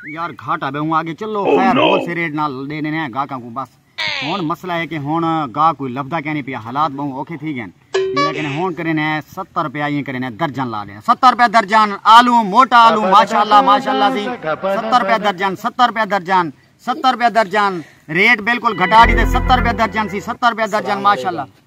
یار گھاٹا بے ہوں آگے چلو oh, خیر بہت سے ریٹ نال دے دینے ہیں گاہکاں کو بس ہن مسئلہ ہے کہ ہن گاہ کوئی لبدا کہنی پیا حالات بہوں اوکھے تھی گئے لیکن ہن کرن ہے 70 روپے یہ کرن ہے درجن لا دے 70 روپے درجن آلو موٹا آلو ماشاءاللہ ماشاءاللہ دی 70 روپے درجن 70 روپے درجن 70 روپے درجن ریٹ بالکل گھٹا دی تے 70 روپے درجن سی 70 روپے درجن ماشاءاللہ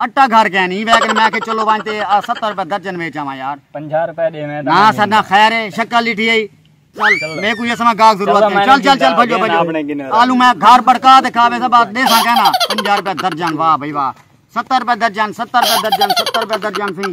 اٹا گھر گئے نہیں ویکن میں کہ چلو وانج تے ستر روپے درجن ویچ آواں یار پنجا روپے دے میں نا سر نا خیر ہے شکل لیٹھی ہے چل میں کوئی اسما گاگ ضرورت ہے چل چل چل بھجو بھجو آلو میں گھر بڑکا دے کھاوے سب آت دے سا کہنا پنجا روپے درجن واہ بھائی واہ ستر روپے درجن ستر روپے درجن ستر روپے درجن سی